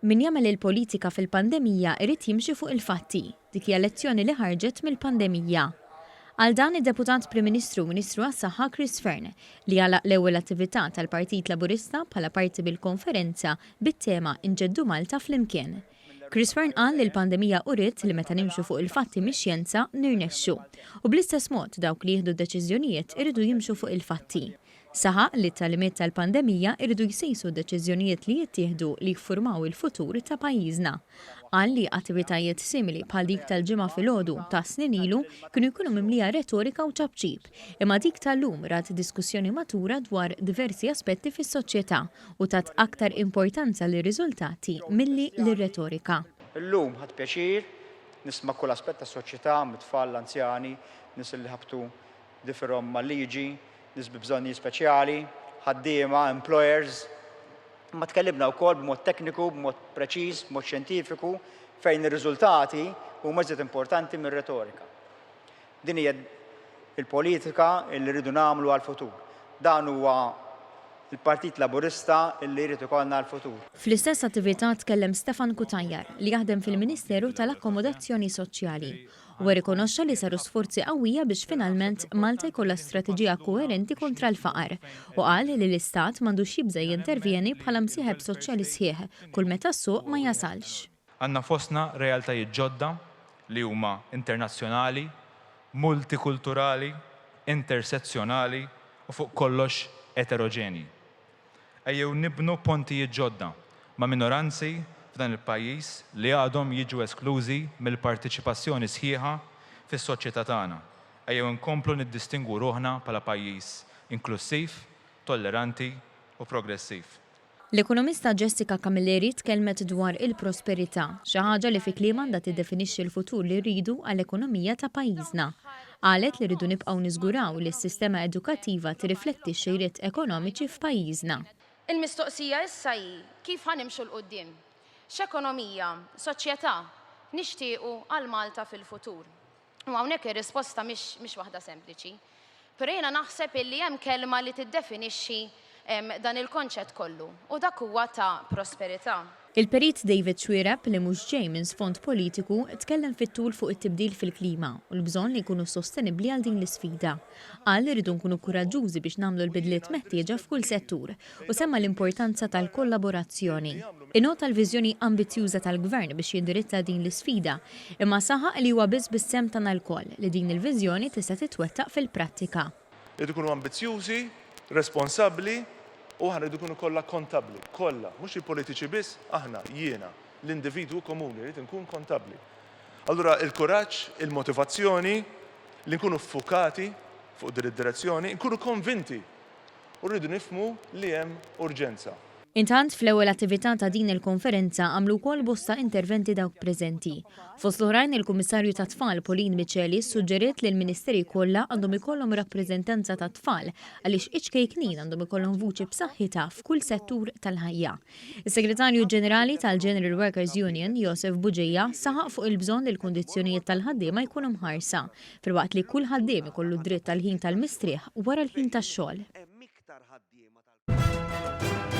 Min jagħmel il-politika fil-pandemija jrid jimxi fuq il-fatti. Dik hija lezzjoni li ħarġet mill-pandemija. Qal dan id-Deputat Prim Ministru u Ministru għas-Saħħa Chris Fearne li għalaq l-ewwel attività tal-Partit Laburista bħala parti mill-konferenza bit-tema Inġeddu Malta flimkien. Chris Fearne qal li l-pandemija uriet li meta nimxu fuq il-fatti mix-xjenza nirnexxu. U bl-istess mod dawk li jieħdu d-deċiżjonijiet iridu jimxu fuq il-fatti. Saħaq li t-tagħlimiet tal-pandemija jridu jsejsu d-deċiżjonijiet li jittieħdu li jiffurmaw il-futur ta' pajjiżna. Qal li attivitajiet simili bħal dik tal-Ġimgħa filgħodu ta' snin ilu kienu jkunu mimlija retorika u ċapċip, imma dik tal-lum rat diskussjoni matura dwar diversi aspetti fis-soċjetà u tat aktar importanza lir-riżultati milli lir-retorika. Illum ħadt pjaċir nisma' kull aspett tas-soċjetà, mit-tfal, l-anzjani, nies li ħabtu differhom mal-liġi, nies bi bżonnijiet speċjali, ħaddiema, employers, imma tkellimna wkoll b'mod tekniku, b'mod preċiż, b'mod xjentifiku, fejn ir-riżultati huma iżjed importanti mir-retorika. Din hija l-politika li rridu nagħmlu għall-futur. Dan huwa l-Partit Laburista li jrid ikollna għall-futur. Fl-istess attività tkellem Stefan Cutajar li jaħdem fil-Ministeru tal-Akkomodazzjoni Soċjali. Huwa rrikonoxxa li saru sforzi qawwija biex finalment Malta jkollha strateġija koerenti kontra l-faqar u qal li l-Istat m'għandux jibża' jintervjeni bħala msieħeb soċjali sħiħ kull meta s-suq ma jasalx. Għandna fostna realtajiet ġodda li huma internazzjonali, multikulturali, intersezzjonali u fuq kollox eteroġenji. Ejjew nibnu pontijiet ġodda ma' minoranzi f'dan il-pajjiż li għadhom jiġu esklużi mill-parteċipazzjoni sħiħa fis-soċjetà tagħna. Ejjew inkomplu niddistingwu ruħna bħala pajjiż inklussiv, tolleranti u progressiv. L-ekonomista Jessica Camilleri tkellmet dwar il-prosperità, xi ħaġa li fi kliemha għandha tiddefinixxi l-futur li rridu għall-ekonomija ta' pajjiżna. Qalet li rridu nibqgħu niżguraw li s-sistema edukattiva tirrifletti x-xejriet ekonomiċi f'pajjiżna. Il-mistoqsija issa hi kif ħa nimxu 'l quddiem? X'ekonomija, soċjetà, nixtiequ għal Malta fil-futur? U hawnhekk ir-risposta mhix waħda sempliċi. Però jiena naħseb illi hemm kelma li tiddefinixxi dan il-konċett kollu, u dak huwa ta' prosperità. Il-Perit David Xuereb, li mhux ġej minn sfond politiku, tkellem fit-tul fuq it-tibdil fil-klima u l-bżonn li nkunu sostenibbli għal din l-isfida. Qal li rridu nkunu kuraġġużi biex nagħmlu l-bidliet meħtieġa f'kull settur u semma l-importanza tal-kollaborazzjoni. Innota l-viżjoni ambizzjuża tal-Gvern biex jindirizza din l-isfida, imma saħaq li huwa biss bis-sehem tagħna lkoll li din il-viżjoni tista' titwettaq fil-prattika. Irid ikunu ambizzjużi, responsabbli u aħna rridu nkunu kollha kontabbli, kollha, mhux il-politiċi biss, aħna, jiena, l-individwu komuni rrid inkun kontabbli. Allura il-kuraġġ, il-motivazzjoni li nkunu ffukati fuq din id-direzzjoni, nkunu konvinti u rridu nifhmu li hemm urġenza. Intant, fl-ewwel attività ta' din il-konferenza għamlu wkoll bosta interventi dawk preżenti. Fost l-oħrajn il-Kummissarju tat-Tfal Pauline Miceli ssuġġeriet li l-Ministeri kollha għandhom ikollhom rappreżentanza tat-tfal għaliex iċ-ċkejknin għandhom ikollhom vuċi b'saħħitha f'kull settur tal-ħajja. Is-Segretarju Ġenerali tal-General Workers Union, Josef Buġija, saħaq fuq il-bżonn li l-kundizzjonijiet tal-ħaddiema jkunu mħarsa, filwaqt li kull ħaddiem ikollu d-dritt għall-ħin tal-mistrieħ wara l-ħin tax-xogħol. iktar ħaddiema tal-Knisja.